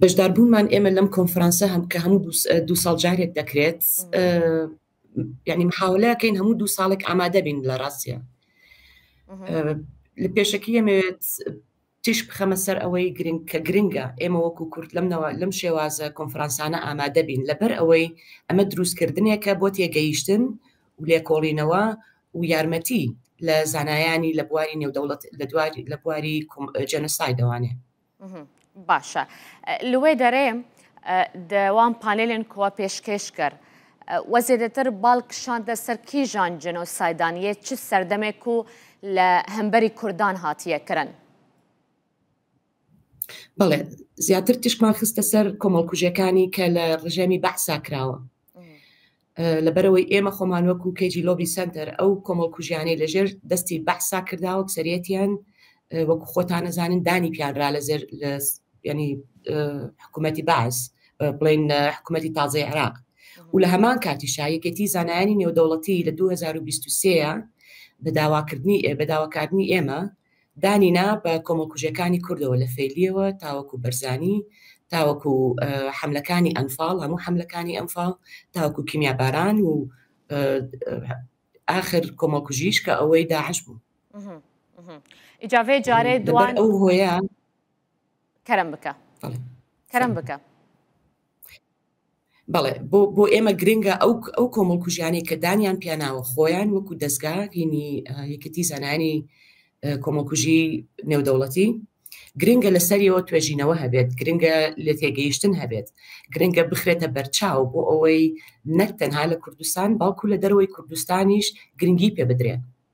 بەشداربوونمان ئێمە لەم کۆنفرانسە هەم کە هەموو دوو ساڵ جارێک دەکرێت یعنی محاولەکەین هەموو دوو ساڵێک ئامادەبین لە ڕاستە لە پێشەکی ئەمەوێت تیش بخەمە سەر ئەوەی گرنگ کە گرنگە ئێمە وەکو کورت لەمنەوە لەم شێوازە کۆنفرانسانە ئامادەبین لەبەر ئەوەی ئەمە دروستکردنێکە بۆ تێگەیشتن و لێکۆڵینەوە و یارمەتی لە زانایانی لە بواری نێودەوڵەت لە دواری لە بواری جەنسای دەوانێ باشە لێ دەرێ دەوام پانێلێن کووە پێشکێش کرد وە زێدەتر باڵکشاندە سەر کیژان جنۆسایدانە چ سەردەمێک و لە هەمبەری کوردان هاتیە کرن بەڵێ زیاتر تیشکمان خستە سەر کۆمەڵکوژەکانی کە لە ڕژێمی بەعسا کراوە لەبەرەوەی ئێمە خۆمان وەکو کەجی لۆبی سنتەر ئەو کۆمەڵکوژیانەی لەژێر دەستی بەحسا کرداوە سەرەتیان وەکو خۆتان نەزانن دانی پیانرا لە زێر ینی حکوومەتی باز بڵین حکوومەتی تازای عراق و لە هەمان کاتی شایەکێتی زانایانی نێودەوڵەتی لە 2023 بە داواکردنی بە داواکردنی ئێمە دانی نا بە کۆمەڵکوژیەکانی کوردەوە لە فەیلیەوە تاوەکو بەرزانی تاوەکو حەملەکانی ئەنفاڵ هەموو حەملەکانی ئەنفاڵ تاوەکو کیمیاباران و ئاخر کۆمەڵکوژیش کە ئەوەی داعش بوو ئیجاێ جارێ دوان ئەو هۆیە کەرم بکە کەرم بکە بەڵێ بۆ بۆ ئێمە گرنگە ئەو ئەو کۆمەڵکوژیانەی کە دانیان پیاناوە خۆیان وەکو دەستگا هینی یەکەتی زانانی کۆمەڵکوژی نێودەوڵەتی گرنگە لەسەریەوە توێژینەوە هەبێت گرنگە لە تێگەیشتن هەبێت گرنگە بخرێتە بەرچاو بۆ ئەوەی نەک تەنها لە کوردستان باوکو لە دەرەوەی کوردستانیش گرنگی پێ بدرێت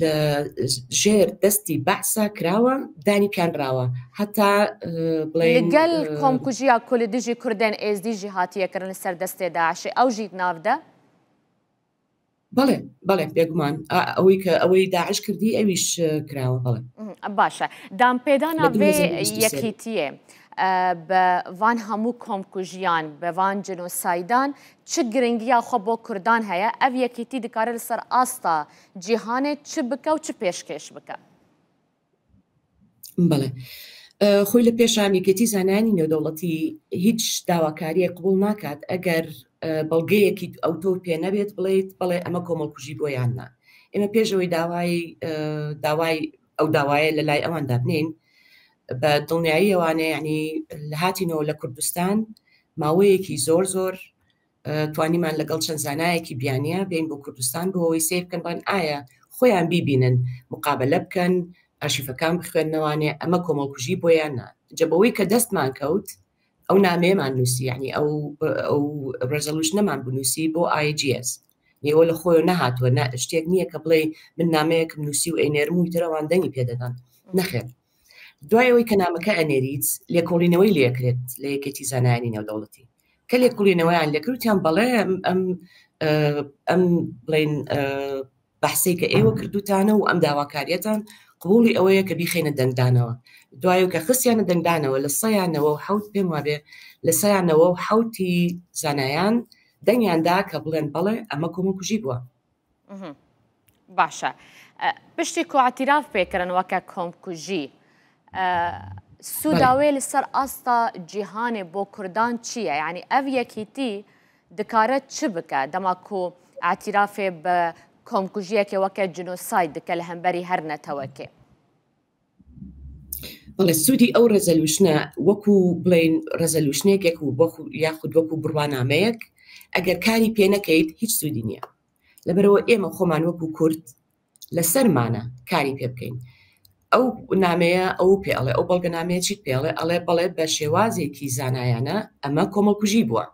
لە ژێر دەستی بەعسا کراوە دانی پیان راوە هەتا بڵێگەل کۆمکوژیا کولی دژی کوردێن ئێزدی ژی هاتیەکردن سەر دەستێ داعشێ ئەو ژیت ناودە بەڵێ بەڵێ بێگومان ئەوەی کە ئەوەی داعش کردی ئەویش کراوە بەڵێ باشە دام پێدانە بێ یەکیتیە. بە وان هەموو کۆمکوژیان بەوان جنۆسایدان چ گرنگیا خۆ بۆ کوردان هەیە ئەو یەکیتی دکارە لەسەر ئاستا جیهانێ چ بکە و چ پێشکێش بکە؟ بەڵێ خۆی لە پێشان یەکێتی زانانی نێودەوڵەتی هیچ داواکاریە قبول ناکات ئەگەر بەڵگەیەکی ئەو تۆ پێ نەبێت بڵێیت بڵێ ئەمە کۆمەڵکوژی بۆ یان نا ئێمە پێشەوەی داوای داوای ئەو داوایە لە لای ئەوان دابنین بە دڵنیایی ئەوانەیە ینی لە هاتینەوە لە کوردستان ماوەیەکی زۆر زۆر توانیمان لەگەڵ چەند زانایەکی بیانیە بین بۆ کوردستان بۆ ئەوەی سیر بکەن بان ئایا خۆیان بیبینن مقابلە بکەن ئاشیفەکان بخوێندنەوانێ ئەمە کۆمەڵکوژی بۆیان نا جەبەوەی کە دەستمان کەوت ئەو نامێمان نووسی ینی ئەو ئەو ڕێزەلوش نەمان بنووسی بۆ آیGS نێوە لە خۆی نەهاتوە شتێک نییە کە بڵێ من نامەیەکم نووسی و ئەینێرم و ترەوان دەنگی پێدەدان نەخێن دوای ئەوەی کە نامەکە ئەنێریت لێکۆڵینەوەی لەکرێت لە یەکێتی زانانی نێودەوڵەتی کە لێکۆڵینەوەیان لەکروتیان بەڵێ ئەم ئەم بڵین بەحسەی کە ئێوە کردوتانە و ئەم داواکاریەتان قوڵی ئەوەیە کە بیخینە دەنگدانەوە دوای کە خستیانە دەنگدانەوە لە سەیانەوە و حوت پێم وابێ لە سەیانەوە و حوتی زانایان دەنگیاندا کە بڵێن بەڵێ ئەمە کۆمە کوژی بووە باشە پشتی کۆعتیراف پێکردن وەکە کۆمکوژی سووداوێ لەسەر ئاستا جیهانێ بۆ کوردان چییە ینی ئەڤ یەکیتی دکارە چ بکە دەماکو ئاتیرافێ بە کۆمکوژیەکێ وەکە جنۆسای دکە لە هەمبەری هەر نەتەوەکێ بەڵێ سوودی ئەو ڕێزەلوشنە وەکو بڵین ڕێزەلوشنێکێک و یاخود وەکو بڕوانامەیەک ئەگەر کاری پێ نەکەیت هیچ سوودی نییە لەبەرەوە ئێمە خۆمان وەکو کورد لەسەرمانە کاری پێ بکەین ئەو نامەیە ئەو پێڵێ ئەو بەڵگە نامەیەکی پێڵێ ئەڵێ بەڵێ بە شێوازێکی زانایانە ئەمە کۆمەڵکوژی بووە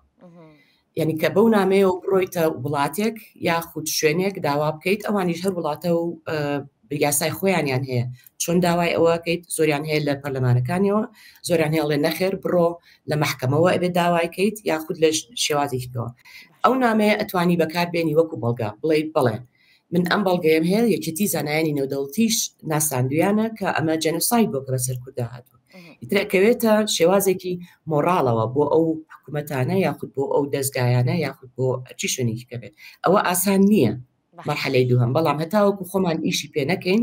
یانی کە بەو نامەیەوە بڕۆیتە وڵاتێک یاخود شوێنێک داوا بکەیت ئەوانیش هەر وڵاتە و یاسای خۆیانیان هەیە چۆن داوای ئەوەکەیت زۆریان هەیە لە پەرلەمانەکانیەوە زۆران هێڵێ نەخێر بڕۆ لە محکەمەوە ئەبێت داوایکەیت یاخود لە شێوازێکەوە ئەو نامەیە ئەتوانی بەکاربێنی وەکو بەڵگە بڵێ بڵێ من ئەم بەڵگەیەم هەیە یەکێتی زانایانی نێودەوڵتیش ناساندویانە کە ئەمە جەنوسایت بۆ کە بەسەر کودا هاتووە ئیترەکەوێتە شێوازێکی مۆراڵەوە بۆ ئەو حکوومەتانە یاخود بۆ ئەو دەستگایانە یاخود بۆ چی شوێنێکی کەبێت ئەوە ئاسان نییە مەحلەی دووهم بەڵام هەتاوەکو خۆمان ئیشی پێ نەکەین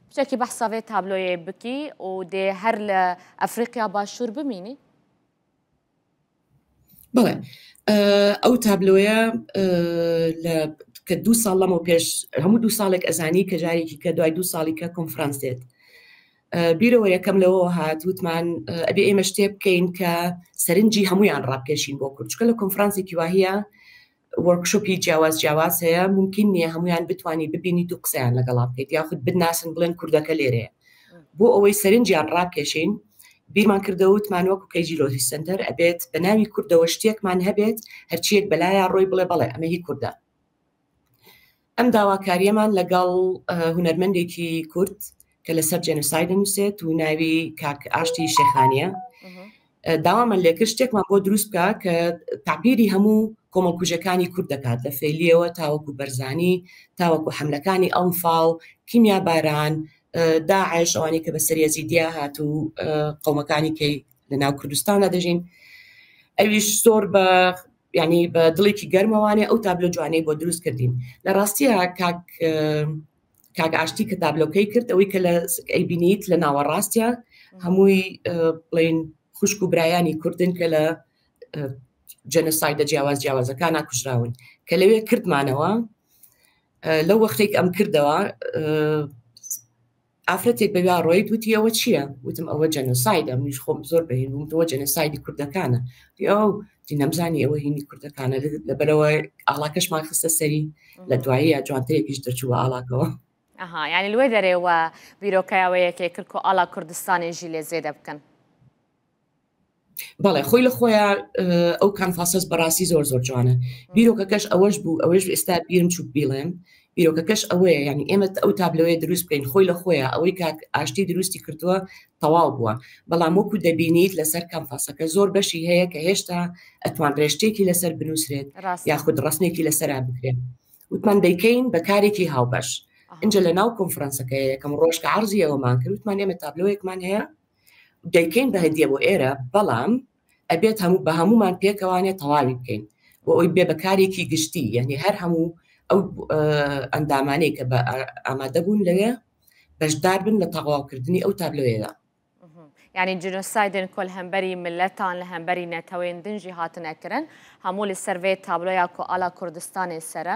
بچەکی بەحسا ڤێ تابلۆیێ بکی و دێ هەر لە ئەفریقیا باشوور بمینی؟ بڵێ ئەو تابلۆیە لە کە دوو ساڵ لەمە پێش هەموو دوو ساڵێک ئەزانی کە جارێکی کە دوای دوو ساڵی کە کۆنفرانس دێت بیرەوە یەکەم لەوە هات وتمان ئەبێ ئێمە شتێ بکەین کە سەرنجی هەمویان ڕاکێشین بۆ کورچکە لە کۆنفرانسێکی واهە وۆرکشۆپی جیاواز جیاواز هەیە ممکن نیە هەمویان بتانی ببینیت و قسەیان لەگەڵا بکەیت یاخود بناسن بڵێن کوردەکە لێرەیە بۆ ئەوەی سەرنجیان ڕاکێشین بیرمان کردەوە وتمان وەکو کەیجی لۆجی سنتەر ئەبێت بە ناوی کوردەوە شتێکمان هەبێت هەرچیەک بەلایە ڕۆی بڵێ بەڵێ ئەمە هی کوردە ئەم داواکارییەمان لەگەڵ هونەرمەندێکی کورد کە لەسەر جێنوسای دەنووسێت و ناوی کاک ئاشتی شێخانە داوامان لێکرد شتێکمان بۆ دروست بکە کە تعبیری هەموو کۆمەڵکوژەکانی کورد دەکات لە فەیلیەوە تاوەکو بەرزانی تاوەکو حملەکانی ئەمفاڵ کیمیا باران داعش ئەوانی کە بەسەریە زیدیا هات و قومەکانی کەی لە ناو کوردستانە دەژین ئەویش زۆر بە ینی بە دڵێکی گەرمەوانێ ئەو تابلۆ جوانەی بۆ دروست کردین لە ڕاستیە کاک کاک ئاشتی کە تابلۆکەی کرد ئەوەی کە لە ئەیبینیت لە ناوەڕاستە هەمووی بڵین خوشک و برایانی کوردن کە لە جەنەسایدە جیاواز جیاوازەکانە کوژراون کە لەوێ کردمانەوە لەو وەختێک ئەم کردەوە ئافرەتێک بە ویا ڕۆیت وتی ئەوە چییە؟ وتم ئەوە جەنۆسایدە، منیش خۆم زۆر بە هێند بووم، وتی ئەوە جەنۆسایدی کوردەکانە. وتی ئۆو، وتی نەمزانی ئەوە هینی کوردەکانە، لەبەرئەوە ئاڵاکەشمان خستە سەری، لە دواییە جوانترێکیش دەرچوو بە ئاڵاکەوە. ئەها، یانی لەوێ دەرێ وا بیرۆکەیە وەیەکێ کرد کۆ ئاڵا کوردستانێژی لێ زێدە بکەن. بەڵێ خۆی لە خۆیان ئەو کانفاسەس بەڕاستی زۆر زۆر جوانە بیرۆکەکەش ئەوەش بوو ئەوەش ئێستا بیرم چوو بیڵێن بیرۆکەکەش ئەوەیە ینی ئێمە ئەو تابلەوەی دروست بکەین خۆی لە خۆیان ئەوەی کاک ئاشتی دروستی کردووە تەواو بووە بەڵام وەکو دەبینیت لەسەر کەمفاسەکە زۆر بەشی هەیە کە هێشتا ئەتوان ڕێشتێکی لەسەر بنووسرێت یاخود ڕستنێکی لەسرا بکرێن وتمان دەیکەین بە کارێکی هاوبەش اینجا لە ناو کۆنفرانسەکە یەکەم ڕۆژکە عرضی ئەومان کردوتمان ئێمە تابلۆیەکمان هەیە دەیکەین بە هەدیە بۆ ئێرە بەڵام ئەبێت هەموو بە هەموومان پێکەوانێ تەواوی بکەین بۆ ئەوی بێ بەکارێکی گشتی یعنی هەر هەموو ئەو ئەندامانەی کە بە ئامادە بوون لەوێ بەشدار بن لە تەواوکردنی ئەو تابلۆیەدا یعنی جنۆسایدن کۆل هەمبەری ملەتان لە هەمبەری نەتەوەێن دنجی هاتنەکردن هەموو لە سەرێ تابلۆیا کۆ ئالا کوردستانی سرە.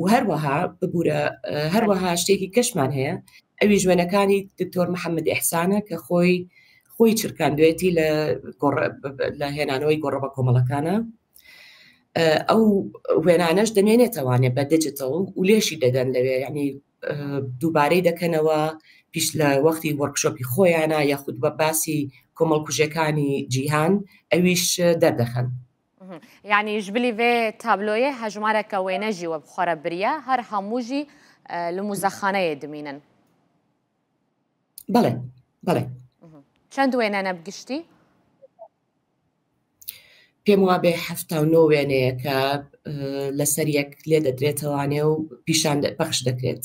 و هەروەها ببوورە هەروەها شتێکی کەشمان هەیە ئەوی ژوێنەکانی دکتۆر محەممەد ئحسانە کە خۆی خۆی چرکاندوێتی لە لە هێنانەوەی گۆڕە بە کۆمەڵەکانە ئەو وێنانەش دەمێنێتەوانێ بە دجتەڵ و لێشی دەدەن لەوێ ینی دووبارەی دەکەنەوە پیش لە وەختی وەرکشۆپی خۆیانە یاخود بە باسی کۆمەڵکوژەکانی جیهان ئەویش دەردەخەن یانی ژبلی ڤێ تابلۆیێ هەژمارە کە وێنە ژی وەبخوەرە بریە هەر هەموو ژی لە موزەخانەیە دمینن بەڵێ بەڵێ چەند وێنە نەبگشتی پێم وابێ هەفتا و نۆ وێنەیەکە لەسەر یەک لێ دەدرێتەوانێ و پیشان پەخش دەکرێت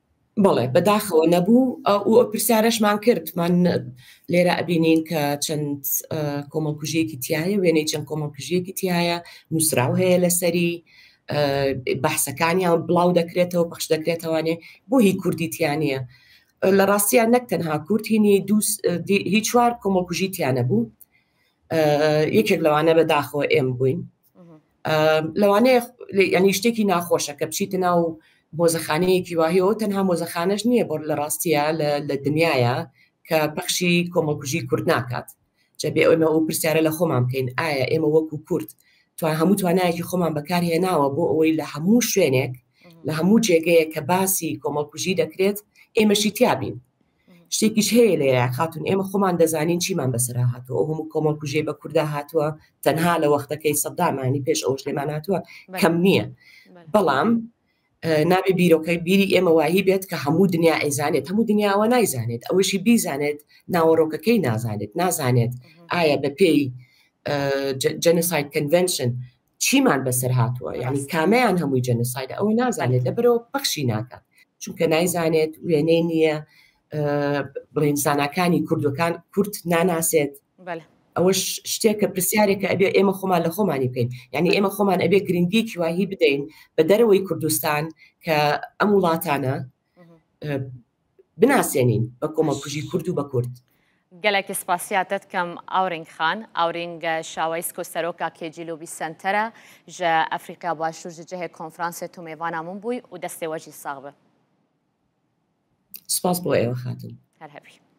بەڵێ بەداخەوە نەبوو و ئەو پرسیارەشمان کرد من لێرە ئەبینین کە چەند کۆمەڵکوژیەکی تایە وێنەی چەند کۆمەڵکژیەکی تایە نووسراو هەیە لەسەری بەحسەکانیان بڵاو دەکرێتەوە پخش دەکرێتەوانێ بۆ هی کوردیتیانە لە ڕاستیان نەک تەنها کورتینی هی چوار کۆمەڵکوژی تیانە بوو یەکێک لەوانە بەداخەوە ئێم بووین لەوانەیە ینی شتێکی ناخۆشە کە بچیتە ناو مۆزەخانەیەکی واهەیەەوە تەنها مۆزەخانەش نییە بۆ لە ڕاستیە لە دنیاە کە پەخشی کۆمەڵکوژی کورد ناکات جەبێ ئەومە ئەو پرسیارە لە خۆمان بکەین ئایا ئێمە وەکو کورد توان هەموو توانایەکی خۆمان بەکارهێناوە بۆ ئەوەی لە هەموو شوێنێک لە هەموو جێگەیە کە باسی کۆمەڵکوژی دەکرێت ئێمەشی تیابین شتێکیش هەیە لێرە خاتون ئێمە خۆمان دەزانین چیمان بەسەر هاتووە ئەو هەموو کۆمەڵ کوژێ بە کووردا هاتووە تەنها لە وەختەکەی سەدامانی پێش ئەوش لێمان هاتووە کەم نییە بەڵام نابێ بیرۆکەی بیری ئێمە وایی بێت کە هەموو دنیا ئەیزانێت هەموو دنیاوە نایزانێت ئەوەشی بیزانێت ناوەڕۆکەکەی نازانێت نازانێت ئایا بە پێی جەنسایت کنڤشن چیمان بەسەر هاتووە یعنی کامەیان هەمووی جەنسایدە ئەوە نازانێت لە بەرەوە پەخشی ناکات چونکە نایزانێت وێنەی نییە بڵێن زانکانی کوردەکان کورت ناناسێت ئەوە شتێکە پرسیارێکە ئەبێ ئێمە خۆمان لە خۆمانی بکەین یعنی ئێمە خۆمان ئەبێ گرنگیکی واهی بدەین بە دەرەوەی کوردستان کە ئەم وڵاتانە بناسێنین بە کۆمەڵکوژی کورد و بە کورد. گەلەکی سپاسیاتەت کەم ئاورینگ خان. ئاورینگ شاوەیس کۆ سەرۆکا کێ جی لوبی سەنتەرە ژە ئەفریقیا باشوور ژە جەهێ کۆنفرانسێ تومێ ڤانا مون بوی و دەستێ وەجی ساغ بە. سپاس بۆ ئێوە خاتون. هەر هەبی.